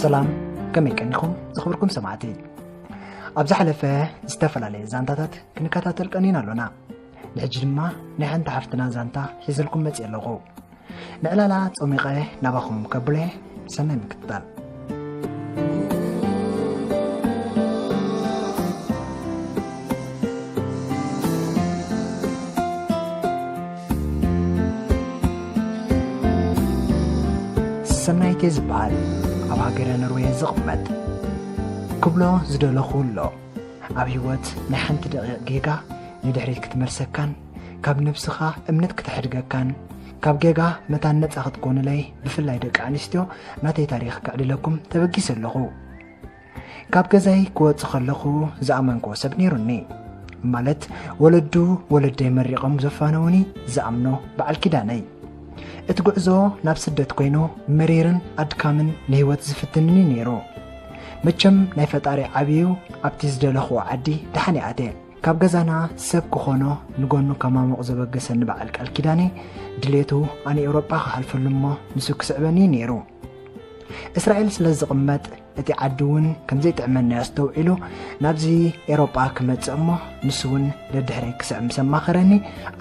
ሰላም ከመይ ቀኒኹም ዝኽብርኩም ሰማዕቲ ኣብ ዝሓለፈ ዝተፈላለየ ዛንታታት ክንከታተል ቀኒና ኣሎና ንሕጂ ድማ ናይ ሓንቲ ሓፍትና ዛንታ ሒዘልኩም መፅ ኣለኹ ንዕላላ ጾሚቐ ናባኹም ከብለ ሰናይ ምክትታል። ሰናይቴ ዝበሃል ኣብ ሃገረ ኖርዌ ዝቕመጥ ክብሎ ዝደለኹ ኣሎ ኣብ ህይወት ናይ ሓንቲ ደቂቕ ጌጋ ንድሕሪት ክትመልሰካን ካብ ነብስኻ እምነት ክተሕድገካን ካብ ጌጋ መታን ነፃ ክትኮኑለይ ብፍላይ ደቂ ኣንስትዮ ናተይ ታሪኽ ከዕልለኩም ተበጊሰ ኣለኹ ካብ ገዛይ ክወፅእ ከለኹ ዝኣመንክዎ ሰብ ነይሩኒ ማለት ወለዱ ወለደይ መሪቖም ዘፋነውኒ ዝኣምኖ በዓል ኪዳነይ እቲ ጉዕዞ ናብ ስደት ኮይኑ መሪርን ኣድካምን ንህይወት ዝፍትንኒ ነይሩ መቸም ናይ ፈጣሪ ዓብዩ ኣብቲ ዝደለኽዎ ዓዲ ደሓን ይኣትየ ካብ ገዛና ሰብ ክኾኖ ንጎኑ ከማሙቕ ዘበገሰኒ በዓል ቃል ኪዳነ ድሌቱ ኣነ ኤውሮጳ ክሓልፈሉ እሞ ንሱ ክስዕበኒ እዩ ነይሩ እስራኤል ስለ ዝቕመጥ እቲ ዓዲ እውን ከምዘይጥዕመና ኣስተውዒሉ ናብዚ ኤሮጳ ክመፅእ እሞ ንሱ እውን ደድሕረይ ክስዕ ምስ ኣማኸረኒ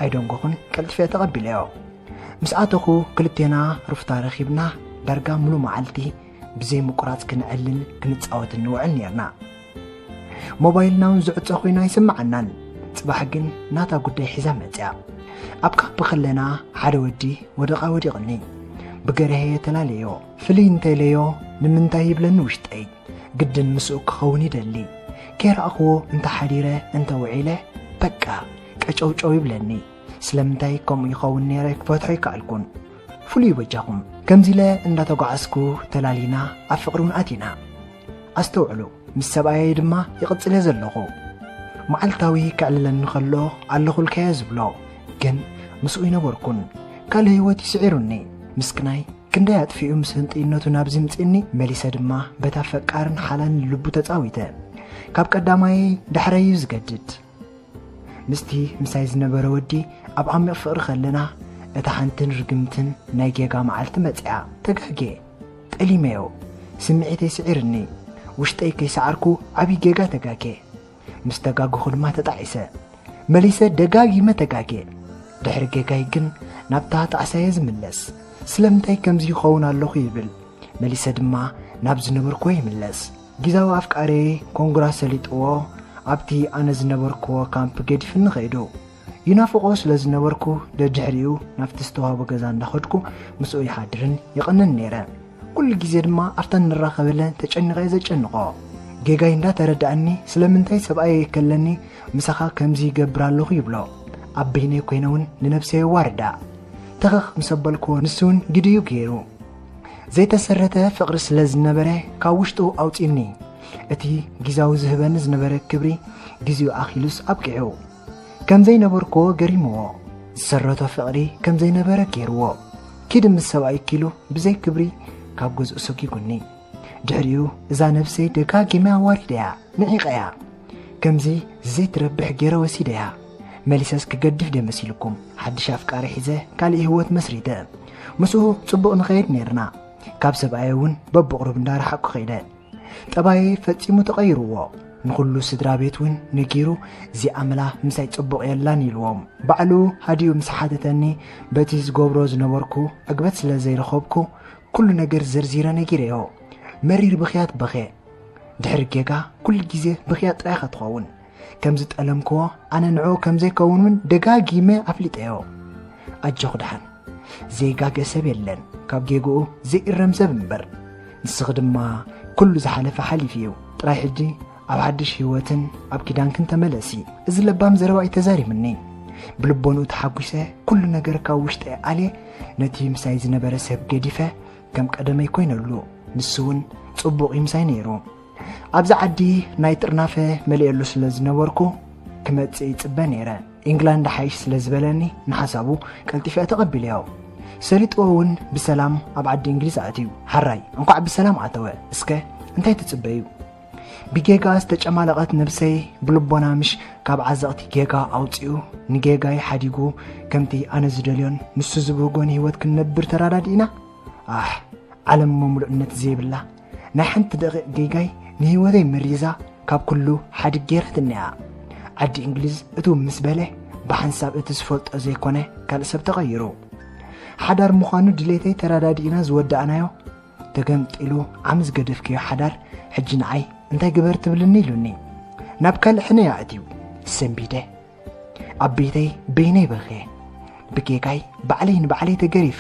ኣይደንጎኹን ቀልጢፈ ተቐቢለዮ ምስ ኣተኹ ክልቴና ሩፍታ ረኺብና ዳርጋ ሙሉ መዓልቲ ብዘይ ምቁራፅ ክንዕልል ክንፃወት እንውዕል ነርና ሞባይልና እውን ዝዕፀ ኮይኑ ኣይስምዓናን ፅባሕ ግን ናታ ጉዳይ ሒዛ መፅያ ኣብ ካምፕ ከለና ሓደ ወዲ ወደቓ ወዲቕኒ ብገርሀየ ተላለዮ ፍልይ እንተለዮ ንምንታይ ይብለኒ ውሽጠይ ግድን ምስኡ ክኸውን ይደሊ ከይረኣኽዎ እንተሓዲረ እንተውዒለ በቃ ቀጨውጨው ይብለኒ ስለምንታይ ከምኡ ይኸውን ነይረ ክፈትሖ ይከኣልኩን ፍሉይ በጃኹም ከምዚ ኢለ እንዳተጓዓዝኩ ተላሊና ኣብ ፍቕሪ እውን ኣቲና ኣስተውዕሉ፣ ምስ ሰብኣየይ ድማ ይቕጽል እየ ዘለኹ። መዓልታዊ ከዕልለኒ ኸሎ ኣለኹልካ እየ ዝብሎ፣ ግን ምስኡ ኣይነበርኩን። ካልእ ህይወት እዩ ስዒሩኒ። ምስክናይ ክንደይ ኣጥፊኡ ምስ ህንጥይነቱ ናብዚ ኣምጺኡኒ፣ መሊሰ ድማ በታ ፈቃርን ሓላልን ልቡ ተጻዊተ። ካብ ቀዳማየይ ዳሕራይ እዩ ዝገድድ። ምስቲ ምሳይ ዝነበረ ወዲ ኣብ ዓሚቕ ፍቕሪ ከለና፣ እታ ሓንትን ርግምትን ናይ ጌጋ መዓልቲ መጺኣ። ተጋግየ። ጠሊመዮ ስምዒተይ ስዒርኒ ውሽጠይ ከይሰዓርኩ ዓብይ ጌጋ ተጋጌ ምስ ተጋገኹ ድማ ተጣዒሰ መሊሰ ደጋጊመ ተጋጌ ድሕሪ ጌጋይ ግን ናብታ ጣዕሳየ ዝምለስ ስለምንታይ ከምዚ ይኸውን ኣለኹ ይብል መሊሰ ድማ ናብ ዝነበርክዎ ይምለስ ጊዛዊ ኣፍቃሪየይ ኮንግራ ሰሊጥዎ ኣብቲ ኣነ ዝነበርክዎ ካምፕ ገዲፍኒ ከይዱ ይናፍቖ ስለ ዝነበርኩ ደድሕሪኡ ናብቲ ዝተዋህቦ ገዛ እንዳኸድኩ ምስኡ ይሓድርን ይቕንን ነይረ። ኩሉ ግዜ ድማ ኣብታ ንራኸበለን ተጨኒቐ'የ ዘጨንቖ። ጌጋይ እንዳተረድኣኒ ስለምንታይ ሰብኣየይ ይከለኒ ምሳኻ ከምዚ ይገብር ኣለኹ ይብሎ። ኣብ በይነይ ኮይነ'ውን ንነብሰይ የዋርዳ። ተኸኽ ምስ ኣበልክዎ ንሱ'ውን ግድ'ዩ ገይሩ። ዘይተሰረተ ፍቕሪ ስለ ዝነበረ ካብ ውሽጡ ኣውጺኡኒ። እቲ ግዝያዊ ዝህበኒ ዝነበረ ክብሪ ግዜኡ ኣኺሉስ ኣብቂዑ። ከም ዘይነበርክዎ ገሪምዎ ዝሰረቶ ፍቕሪ ከም ዘይነበረ ገይርዎ ኪድ ምስ ሰብኣይኪ ኢሉ ብዘይ ክብሪ ካብ ገዝኡ ሰጒጉኒ ድሕሪኡ እዛ ነብሰይ ደጋጊመ ኣዋሪደያ ንዒቐያ ከምዚ ዘይትረብሕ ገይረ ወሲደያ መሊሰስ ክገድፍ ድየ መሲልኩም ሓድሽ ኣፍቃሪ ሒዘ ካልእ ህይወት መስሪተ ምስኡ ጽቡቕ ንኸይድ ነይርና ካብ ሰብኣየ እውን በብቑሩብ እንዳረሓቕኩ ከይደ ጠባየይ ፈጺሙ ተቐይርዎ ንኹሉ ስድራ ቤት እውን ነጊሩ እዚ ኣመላ ምሳይ ጽቡቕ የላን ኢልዎም ባዕሉ ሃዲኡ ምስ ሓተተኒ በቲ ዝገብሮ ዝነበርኩ ዕግበት ስለ ዘይረኸብኩ ኩሉ ነገር ዘርዚረ ነጊረዮ መሪር ብኽያት በኽየ ድሕሪ ጌጋ ኩሉ ግዜ ብኽያት ጥራይካ ትኸውን ከም ዝጠለምክዎ ኣነ ንዕኡ ከም ዘይከውን እውን ደጋጊመ ኣፍሊጠዮ ኣጆኽ ደሓን ዘይጋገ ሰብ የለን ካብ ጌግኡ ዘይእረም ሰብ እምበር ንስኺ ድማ ኩሉ ዝሓለፈ ሓሊፉ እዩ ጥራይ ሕጂ ኣብ ሓድሽ ህይወትን ኣብ ኪዳንክን ተመለሲ እዚ ለባም ዘረባ እዩ ተዛሪብኒ ብልቦንኡ ተሓጒሰ ኩሉ ነገር ካብ ውሽጠ ኣልየ ነቲ ምሳይ ዝነበረ ሰብ ገዲፈ ከም ቀደመይ ኮይነሉ ንሱ እውን ጽቡቕ ይምሳይ ነይሩ ኣብዚ ዓዲ ናይ ጥርናፈ መሊኤሉ ስለ ዝነበርኩ ክመጽእ ይጽበ ነይረ። ኢንግላንድ ሓይሽ ስለ ዝበለኒ ንሓሳቡ ቀልጢፈ ተቐቢለዮ። ሰሊጥዎ እውን ብሰላም ኣብ ዓዲ እንግሊዝ ኣእትዩ። ሓራይ እንኳዕ ብሰላም ኣተወ። እስከ እንታይ ትጽበዩ? ብጌጋ ዝተጨማለቐት ነብሰይ ብልቦና ምሽ ካብ ዓዘቕቲ ጌጋ ኣውፂኡ ንጌጋይ ሓዲጉ ከምቲ ኣነ ዝደልዮን ንሱ ዝብህጎን ህይወት ክንነብር ተራዳዲእና ኣሕ ዓለም መምሉእነት ዘይብላ ናይ ሓንቲ ደቒቕ ጌጋይ ንህይወተይ መሪዛ ካብ ኩሉ ሓድግ ገይራትኒ'ያ። ዓዲ እንግሊዝ እትው ምስ በለ ብሓንሳብ እቲ ዝፈልጦ ዘይኮነ ካልእ ሰብ ተቐይሩ። ሓዳር ምዃኑ ድሌተይ ተረዳዲእና ዝወዳእናዮ ተገምጢሉ ዓሚ ዝገደፍክዮ ሓዳር ሕጂ ንዓይ እንታይ ግበር ትብልኒ ኢሉኒ ናብ ካልእ ሕነ ኣእትዩ ሰምቢደ ኣብ ቤተይ በይነይ በኽየ ብጌጋይ ባዕለይ ንባዕለይ ተገሪፈ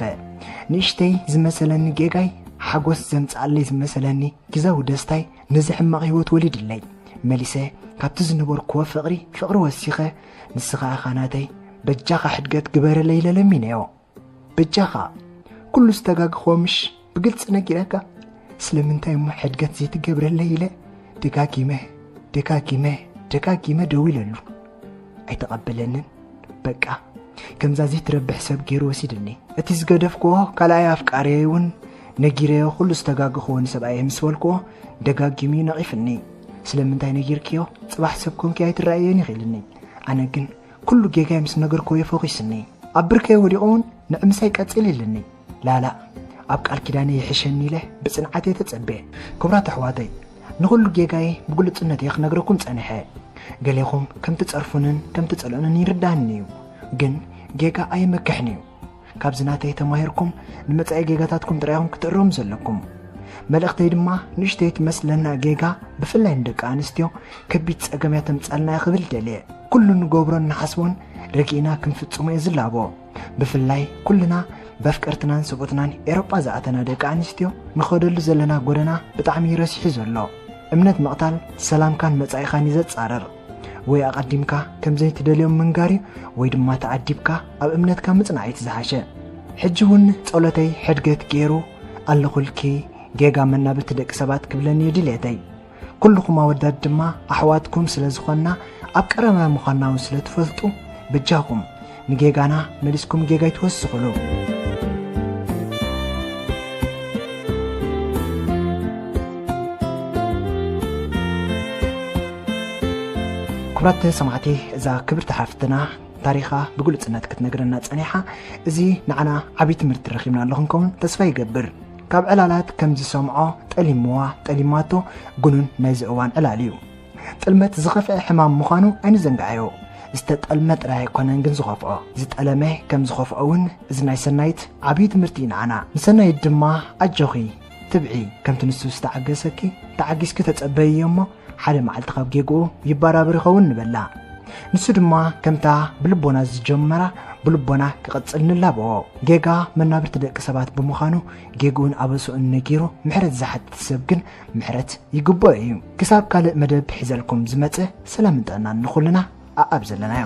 ንእሽተይ ዝመሰለኒ ጌጋይ ሓጎስ ዘምጽኣለይ ዝመሰለኒ ግዛዊ ደስታይ ነዚ ሕማቕ ህይወት ወሊድለይ መሊሰ ካብቲ ዝነበርክዎ ፍቕሪ ፍቕሪ ወሲኸ ንስኻ እኻ ናተይ በጃኻ ሕድገት ግበረለይ ኢለ ለሚነዮ በጃኻ ኩሉ ዝተጋግኾ ምሽ ብግልፂ ነጊረካ ስለምንታይ እሞ ሕድገት ዘይትገብረለይ ኢለ ደጋጊመ ደጋጊመ ደጋጊመ ደዊለሉ ኣይተቐበለንን በቃ ከምዛ ዘይትረብሕ ሰብ ገይሩ ወሲድኒ እቲ ዝገደፍክዎ ካልኣይ ኣፍቃርየይ እውን ነጊረዮ ኩሉ ዝተጋግኽዎ ንሰብኣየ ምስ በልክዎ ደጋጊሙ ነቒፍኒ ስለምንታይ ነጊርክዮ ፅባሕ ሰብ ኮንኪ ኣይትረኣየን ይኽኢልኒ ኣነ ግን ኩሉ ጌጋይ ምስ ነገርክዎ'የ ፎኺሱኒ። ኣብ ብርከይ ወዲቐ'ውን ንዒ ምሳይ ቀጽሊ ኢሉኒ። ላላእ ኣብ ቃል ኪዳነይ ይሕሸኒ ኢለ ብጽንዓት'የ ተጸቤ። ክቡራት ኣሕዋተይ፣ ንኹሉ ጌጋይ ብግሉጽነት'የ ክነግረኩም ጸኒሐ። ገሌኹም ከም ትጸርፉንን ከም ትጸልኡንን ይርድኣኒ'ዩ። ግን ጌጋ ኣየመክሕን'ዩ። ካብዚ ናተይ ተማሂርኩም ንመጻኢ ጌጋታትኩም ጥራይ ኢኹም ክትእረሙ ዘለኩም። መልእኽተይ ድማ ንእሽተይ ትመስለና ጌጋ ብፍላይ ንደቂ ኣንስትዮ ከቢድ ጸገም እያ ተምጻልና እያ ክብል ደልየ። ኩሉ ንገብሮን ንሓስቦን ረጊእና ክንፍጽሞ እየ ዝላቦ። ብፍላይ ኩልና በፍቀርትናን ሰብኡትናን ኤሮጳ ዝኣተና ደቂ ኣንስትዮ ንኸደሉ ዘለና ጎደና ብጣዕሚ እዩ ረሲሑ ዘሎ። እምነት ምቕታል ሰላምካን መጻኢኻን እዩ ዘጻርር። ወይ ኣቐዲምካ ከም ዘይትደልዮም ምንጋር እዩ ወይ ድማ ተዓዲብካ ኣብ እምነትካ ምጽናዕ እቲ ዝሓሸ ሕጂ እውን ጸሎተይ ሕድገት ገይሩ ኣለኹልኪ ጌጋ መናብርቲ ደቂ ሰባት ክብለኒ እዩ ድሌተይ ኩልኹም ኣወዳት ድማ ኣሕዋትኩም ስለ ዝኾንና ኣብ ቀረባ ምዃንና እውን ስለ ትፈልጡ በጃኹም ንጌጋና መሊስኩም ጌጋ ኣይትወስኹሉ። ክብራት ሰማዕቲ እዛ ክብርቲ ሓፍትና ታሪኻ ብግሉፅነት ክትነግረና ፀኒሓ እዚ ንዓና ዓብዪ ትምህርቲ ረኪብና ኣለኹ ከውን ተስፋ ይገብር ካብ ዕላላት ከም ዝሰምዖ ጠሊምዋ ጠሊማቶ ግኑን ናይዚ እዋን ዕላል እዩ ጥልመት ዝኸፍኤ ሕማም ምዃኑ ኣይንዘንግዓዮ። ዝተጠልመ ጥራይ ኣይኮነን ግን ዝኸፍኦ፣ ዝጠለመ ከም ዝኸፍኦ ውን እዚ ናይ ሰናይት ዓብይ ትምህርቲ ዩ ንዓና። ንሰናይት ድማ ኣጆኺ፣ ትብዒ፣ ከምቲ ንሱ ዝተዓገሰኪ ተዓጊስኪ ተጸበይዮ እሞ ሓደ መዓልቲ ካብ ጌግኡ ይባራብር ይኸውን ንበላ። ንሱ ድማ ከምታ ብልቦና ዝጀመራ ብልቦና ክቕጽል ንላበዎ። ጌጋ መናብርቲ ደቂ ሰባት ብምዃኑ ጌግኡን ኣበስኡን ነጊሩ ምሕረት ዝሓትት ሰብ ግን ምሕረት ይግበኦ እዩ ክሳብ ካልእ መደብ ሒዘልኩም ዝመጽእ ሰላምን ጥዕናን ንኹልና ኣኣብ ዘለናዮ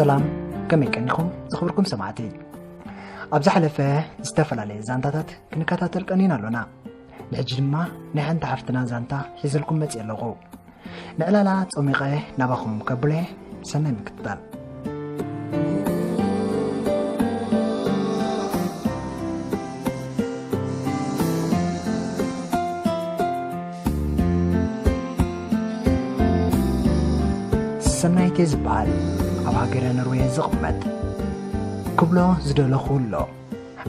ሰላም ከመይ ቀኒኹም ዝኽብርኩም ሰማዕቲ ኣብ ዝሓለፈ ዝተፈላለየ ዛንታታት ክንከታተል ቀኒና ኣሎና ንሕጂ ድማ ናይ ሓንቲ ሓፍትና ዛንታ ሒዘልኩም መፅእ ኣለኹ ንዕላላ ጸሚቐ ናባኹም ከብለ ሰናይ ምክትታል። ሰናይቴ ዝበሃል ኣብ ሃገረ ኖርዌ ዝቕመጥ ክብሎ ዝደለኹ ኣሎ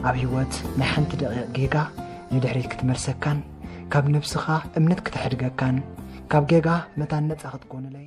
ኣብ ህይወት ናይ ሓንቲ ደቂቕ ጌጋ ንድሕሪት ክትመልሰካን ካብ ነብስኻ እምነት ክተሕድገካን ካብ ጌጋ መታን ነጻ ክትኮንለይ